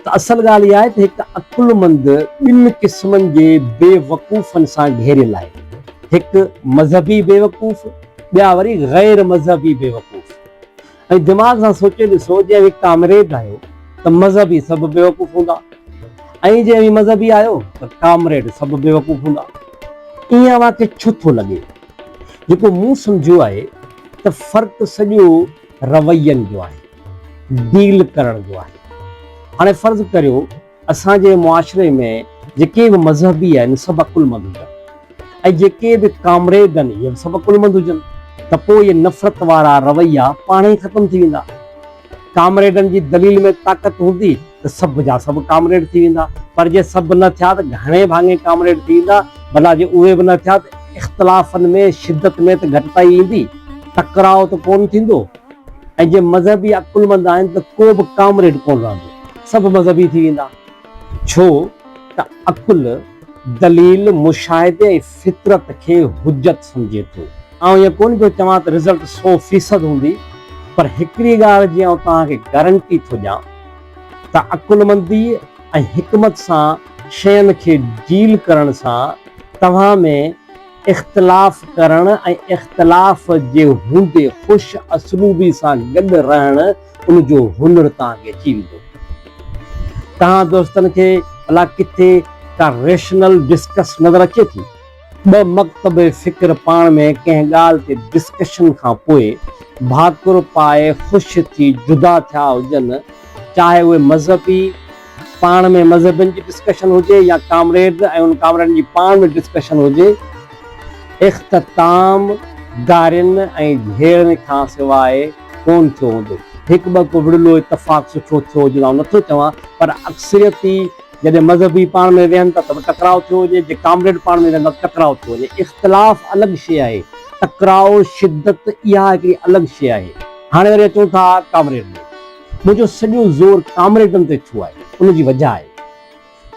ته اصل ڳالهه اها آهي ته هڪ عقلمند ٻن قسمن جي بي وقوفن سان گهيريل آهي، هڪ مذهبي بي وقوف، ٻيا وري غير مذهبي بي وقوف. ۽ دماغ سان سوچي ڏسو جي اوهين ڪامريد آهيو ته مذهبي سڀ بي وقوف هوندا ۽ جي اوهين مذهبي آهيو ته ڪامريڊ سڀ بي وقوف هوندا. ائين اوهان کي ڇو ٿو لڳي؟ جيڪو مون سمجهيو آهي ته فرق سڄو. روين جو آهي، ڊيل ڪرڻ جو آهي. هاڻي فرض ڪريو اسان جي معاشري ۾ جيڪي به مذهبي آهن سڀ عقلمند هجن ۽ جيڪي به ڪامريڊ آهن اهي به سڀ عقلمند هجن ته پوء اهي نفرت وارا رويا پاڻهي ختم ٿي ويندا. ڪامريڊن جي دليل ۾ طاقت هوندي. ته سڀ جا سڀ ڪامريڊ ٿي ويندا، پر جي سڀ نه ٿيا ته گهڻي ڀاڱي ڪامريڊ ٿي ويندا، ڀلا جي اهي به نه ٿيا ته اختلافن ۾ شدت ۾ ته گهٽتائي ايندي، ٽڪراء ته ڪونه ٿيندو ۽ جي مذهبي عقلمند آهن ته ڪو به ڪامريڊ ڪونه رهندو، سڀ مذهبي ٿي ويندا، ڇو ته عقل، دليل، مشاهدي ۽ فطرت کي حجت سمجهي ٿو. آئون ائين ڪونه پيو چوان ته رزلٽ سو فيصد هوندي، پر هڪڙي ڳالهه جي آئون توهان کي گارنٽي ٿو ڏيان، ته عقلمندي ۽ حڪمت سان شين کي ڊيل ڪرڻ سان توهان ۾ اختلاف ڪرڻ ۽ اختلاف جي هوندي خوش اسلوبي سان گڏ رهڻ ان جو هنر توهان کي اچي ويندو. توهان دوستن کي ڀلا ڪٿي ڪا ريشنل ڊسڪس نظر اچي ٿي؟ ٻه مڪتب فڪر پاڻ ۾ ڪنهن ڳالهه تي ڊسڪشن کان پوء ڀاڪر پائي خوش ٿي جدا ٿيا هجن، چاهي اهي مذهبي پاڻ ۾ مذهبين جي ڊسڪشن هجي يا ڪامريڊز ۽ انهن ڪامريڊن جي پاڻ ۾ ڊسڪشن هجي، اختتام گارين ۽ جهيڙن کان سواء ڪونه ٿيو هوندو. هڪ ٻه ڪو وڙهلو اتفاق سٺو ٿيو هجي آئون نٿو چوان پر اڪثريتي جڏهن مذهبي پاڻ ۾ ويهن ٿا ته به ٽڪراء ٿيو وڃي، جي ڪامريڊ پاڻ ۾ ويهن ٿا ته ٽڪراء ٿيو وڃي. اختلاف الڳ شيء آهي، ٽڪراء، شدت، اها هڪڙي الڳ شيء آهي. هاڻي وري اچون ٿا ڪامريڊ ڏي. منهنجو سڄو زور ڪامريڊن تي ڇو آهي؟ ان جي وجهه آهي.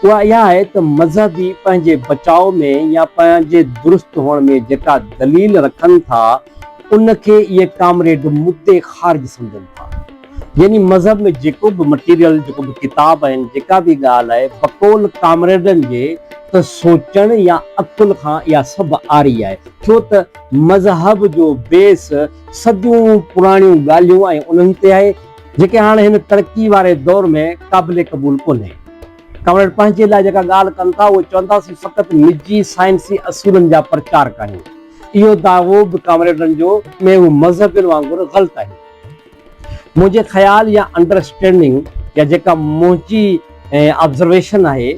اها اها آهي ته مذهبي پنهنجي بچاء ۾ يا پنهنجي درست هئڻ ۾ جيڪا دليل رکن ٿا، ان کي اهي ڪامريڊ مدعي خارج سمجهن ٿا. يعني مذهب ۾ جيڪو به مٽيريل، جيڪو به ڪتاب آهن، جيڪا به ڳالهه آهي، بقول ڪامريڊن جي ته سوچڻ يا عقل کان اها سڀ عاري آهي، ڇو ته مذهب جو بيس صديون پراڻيون ڳالهيون ۽ انهن تي آهي، جيڪي هاڻ هن ترقي واري دور ۾ قابل قبول ڪونهي. ڪامريڊ پنهنجي لاء جيڪا ڳالهه ڪن ٿا، اهو چونداسين فقط نجي سائنسي اصولن جا پرچارڪ آهيون. اهو دعوو به ڪامريڊن جو ۾ اهو مذهبين وانگر غلط آهي. منهنجي خيال يا انڊرسٽينڊنگ يا جيڪا منهنجي آبزرويشن آهي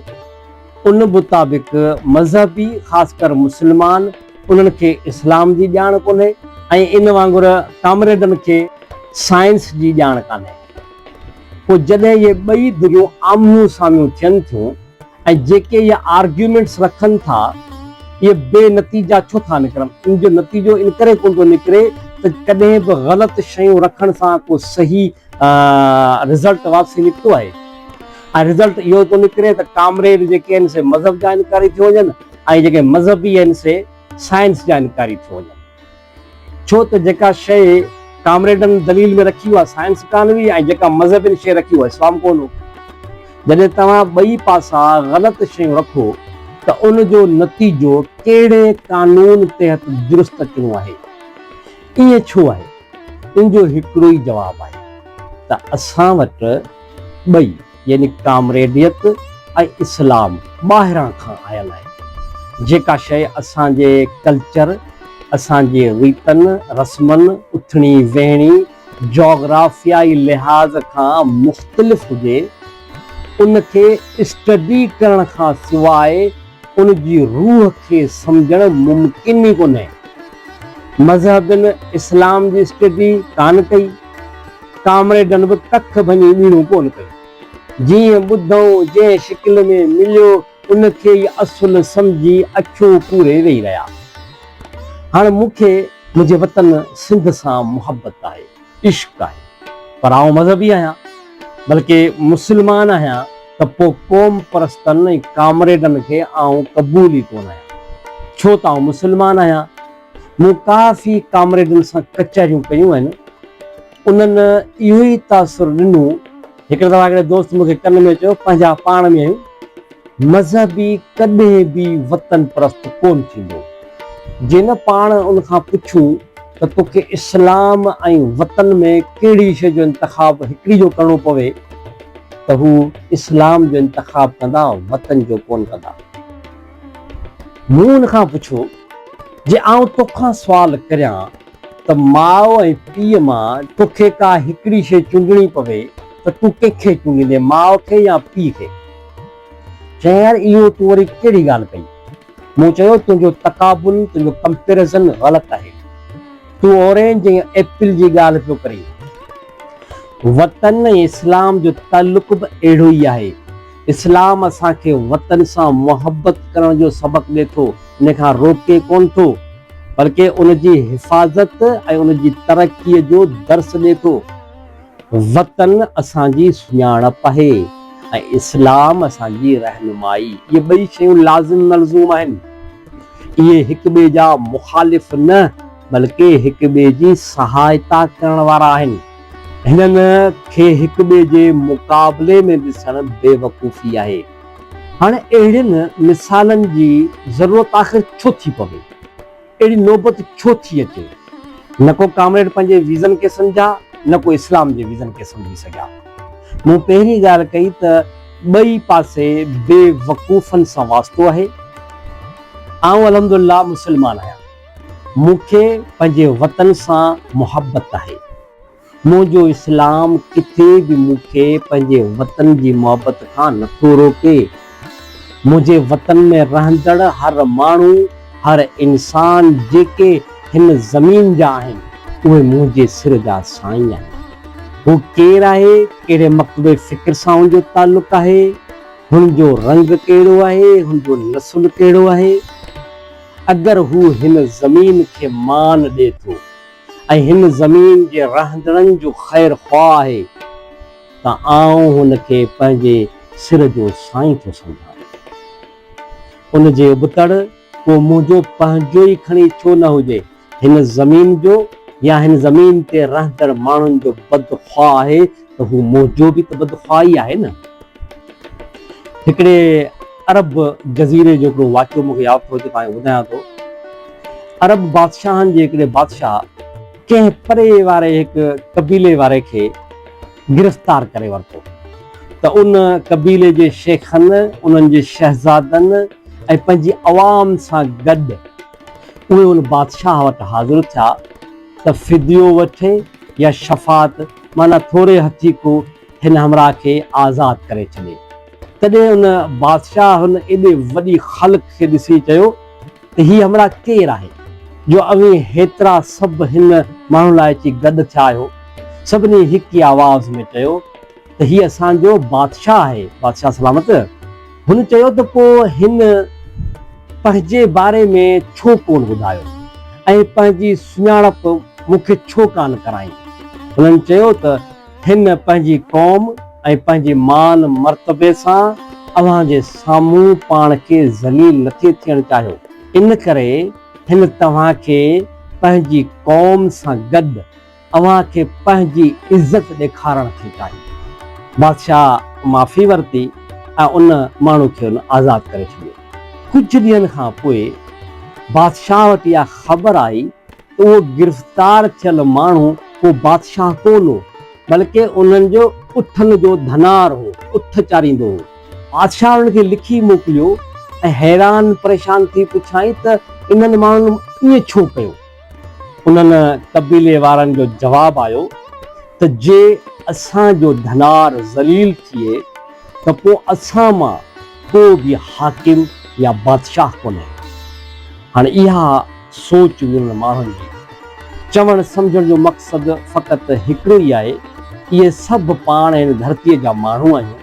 ان مطابق مذهبي خاص ڪر مسلمان انهن کي اسلام جي ڄاڻ ڪونهي ۽ ان وانگر ڪامريڊن کي سائنس جي ڄاڻ ڪانهي. پوء جڏهن اهي ٻئي ڌريون آمهيون سامهيون ٿين ٿيون. ۽ جيڪي اهي آرگيومينٽس رکن ٿا اهي بي نتيجا ڇو ٿا نڪرن؟ ان جو نتيجو ان ڪري ڪونه ٿو نڪري ته ڪڏهن به غلط شيون رکڻ سان ڪو صحيح رزلٽ واپسي نڪتو آهي ۽ رزلٽ اهو ٿو نڪري ته ڪامريڊ جيڪي آهن سي مذهب جا انڪاري ٿيو وڃن ۽ جيڪي مذهبي آهن سي سائنس جا انڪاري ٿيو وڃن. ڇو ته جيڪا شيء ڪامريڊن دليل ۾ رکي اها سائنس ڪانه هئي ۽ جيڪا مذهبين شيء رکي اهو اسلام ڪونه هو. جڏهن توهان ٻئي پاسا غلط شيون رکو ته ان جو نتيجو ڪهڙي قانون تحت درست اچڻو آهي؟ ائين ڇو آهي؟ ان جو هڪڙو ئي جواب آهي ته اسان وٽ ٻئي. يعني ڪامريڊيت ۽ اسلام ٻاهران کان آيل آهي. جيڪا شيء اسان جي ڪلچر، اسان جي ريتن رسمن، اٿڻي ويهڻي، جاگرافيائي لحاظ کان مختلف هجي، ان کي اسٽڊي ڪرڻ کان سواء، ان جي روح کي سمجهڻ ممڪن ئي ڪونهي. مذهبين اسلام جي اسٽڊي ڪانه ڪئي، ڪامريڊن به ڪک ڀڃي ٻيڻون ڪونه ڪيون. جيئن ٻڌئون، جنهن شڪل ۾ مليو، ان کي ئي اصل سمجهي اکيون پوري ويهي رهيا. هاڻ مون کي منهنجي وطن سنڌ سان محبت آهي. عشق آهي پر آئون مذهبي آهيان بلڪه مسلمان آهيان ته پوء قوم پرستن ۽ ڪامريڊن کي آئون قبول ئي ڪونه آهيان ڇو ته آئون مسلمان آهيان مون ڪافي ڪامريڊن سان ڪچهريون ڪيون آهن انهن اهو ئي تاثر ڏنو هڪڙي دفعي هڪڙي دوست مون کي ڪن ۾ چيو پنهنجا پاڻ ۾ آهيون مذهبي ڪڏهن به وطن پرست ڪون ٿيندو. جي نه پاڻ ان کان پڇون ته توکي اسلام ۽ وطن ۾ ڪهڙي شيء جو انتخاب هڪڙي جو ڪرڻو پوي ته هو اسلام جو انتخاب ڪندا وطن جو ڪون ڪندا. مون ان کان پڇو جي آئون توکان سوال ڪريان ته ماء ۽ پيء مان توکي ڪا هڪڙي شيء چونڊڻي پوي ته تون ڪنهن کي چونڊيندين ماء کي يا پيء کي؟ چيائين يار اهو تون وري ڪهڙي ڳالهه ڪئي؟ مون چيو تنهنجو تقابل، تنهنجو ڪمپيرزن غلط آهي. تون اورينج ۽ ايپل جي ڳالهه پيو ڪرين. وطن ۽ اسلام جو تعلق به اهڙو ئي آهي. اسلام اسان کي وطن سان محبت ڪرڻ جو سبق ڏي ٿو، ان کان روڪي ڪونه ٿو، بلڪه ان جي حفاظت ۽ ان جي ترقي جو درس ڏي ٿو. وطن اسان جي سڃاڻپ آهي ۽ اسلام اسان جي رهنمائي، اهي ٻئي شيون لازم ملزوم آهن. اهي هڪ ٻئي جا مخالف نه، بلڪه هڪ ٻئي جي سهائتا ڪرڻ وارا آهن. هنن کي هڪ ٻئي جي مقابلي ۾ ڏسڻ بيوقوفي آهي. هاڻ اهڙين مثالن جي ضرورت آخر ڇو ٿي پوي؟ اهڙي نوبت ڇو ٿي اچي؟ نه ڪو ڪامريڊ پنهنجي ويزن کي سمجهيا نه ڪو اسلام جي ويزن کي سمجهي سگهيا. مون پهرين ڳالهه ڪئي ته ٻئي پاسي بيوقوفن سان واسطو آهي. آئون الحمدلله مسلمان آهيان. مون کي پنهنجي وطن سان محبت آهي. منهنجو اسلام ڪٿي به مون کي پنهنجي وطن جي محبت کان نه ٿو روڪي. منهنجي وطن ۾ رهندڙ هر ماڻهو، هر انسان جيڪي هن زمين جا آهن، اهي منهنجي سر جا سائين آهن. هو ڪير آهي، ڪهڙي مڪتبه فڪر سان هن جو تعلق آهي، هن جو رنگ ڪهڙو آهي، هن جو نسل ڪهڙو آهي، اگر هو هن زمين کي مان ڏي ٿو ۽ هن زمين جي رهندڙن جو خير خواهه آهي ته آئون هن کي پنهنجي سر جو سائين ٿو سمجهان. ان جي ابتڙ ڪو منهنجو پنهنجو ئي کڻي ڇو نه هجي. هن زمين جو يا هن زمين تي رهندڙ ماڻهن جو بدخواهه آهي ته هو منهنجو به ته بدخواهه ئي آهي نه. هڪڙي عرب جزيري جو هڪڙو واقعو مون کي ياد ٿو اچي توهان کي ٻڌايان ٿو. عرب بادشاهن جي هڪڙي بادشاهه ڪنهن پري واري هڪ قبيلي واري کي گرفتار ڪري ورتو ته ان قبيلي جي شيخن، انهن جي شهزادن ۽ پنهنجي عوام سان گڏ، اهي ان بادشاهه وٽ حاضر ٿيا ته فديو وٺي يا شفاعت معنيٰ ٿوري هٿي ڪو هن همراهه کي آزاد ڪري ڇڏي. تڏهن ان بادشاهه هن ايڏي وڏي خلق کي ڏسي چيو ته هي همراهه ڪير آهي جو اوهين هيترا سڀ هن ماڻهو لاء اچي گڏ ٿيا آهيو؟ سڀني هڪ ئي آواز ۾ چيو. ته هي اسان جو بادشاهه آهي، بادشاهه سلامت. هن چيو ته پوء هن پنهنجي باري ۾ ڇو ڪونه ٻڌايو ۽ پنهنجي سڃاڻپ مون کي ڇو ڪانه ڪرائين؟ هنن چيو ته هن پنهنجي قوم ۽ پنهنجي مان مرتبي سان اوهان جي سامهون پاڻ کي ذليل نٿي ٿيڻ چاهيو، ان ڪري هن توهان کي پنهنجي قوم سان گڏ اوهان کي پنهنجي عزت ڏيکارڻ ٿي چاهي. بادشاهه معافي ورتي ۽ ان ماڻهو کي هن آزاد ڪري ڇڏيو. ڪجهه ڏينهن کان پوء بادشاهه وٽ اها خبر آئي ته اهو گرفتار ٿيل ماڻهو ڪو بادشاهه ڪونه هو، بلڪه انهن جي اٺن جو ڌنار هو، اٺ چاريندو هو. بادشاهه انهن کي لکي موڪليو ۽ حيران پريشان ٿي پڇيائين ته انهن ماڻهن ائين ڇو ڪيو؟ انهن قبيلي وارن جو جواب آيو ته جي اسان جو ڌنار ذليل ٿئي ته پوء اسان مان ڪو به حاڪم يا بادشاهه ڪونهي. هاڻ اها سوچ هئي انهن ماڻهن جي. چوڻ سمجهڻ جو مقصد فقط هڪڙو ئي آهي، اهي سڀ پاڻ هن ڌرتيء جا ماڻهو آهيون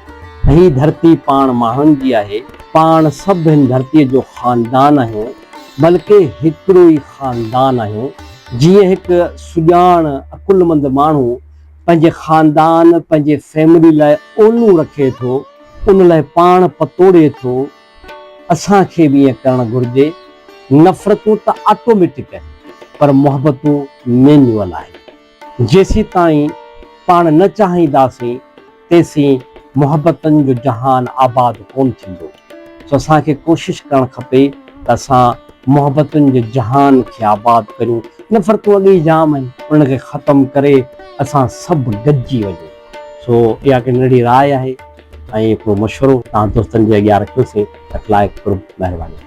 ۽ هي ڌرتي پاڻ ماڻهن جي آهي، پاڻ سڀ هن ڌرتيء جو خاندان آهيون. بلڪه هڪڙو ئي خاندان آهيون، جيئن هڪ سڄاڻ عقلمند ماڻهو پنهنجي خاندان، پنهنجي فيملي لاء اولون رکي ٿو، ان لاء پاڻ پتوڙي ٿو، اسان کي به ائين ڪرڻ گهرجي. نفرتون ته آٽوميٽڪ آهن، پر محبتون مينيوئل آهن. جيسيتائين پاڻ نه چاهينداسين تيسين محبتن جو جهان آباد ڪون ٿيندو سو اسان کي ڪوشش ڪرڻ کپي ته اسان محبتن جي جهان کي آباد ڪريون نفرتون اڳ ئي جام آهن انهن کي ختم ڪري اسان سڀ گڏجي وڃون سو اها هڪ ننڍڙي راء آهي ۽ هڪڙو مشورو توهان دوستن جي اڳيان رکيوسين اٽلاء قرب مهرباني.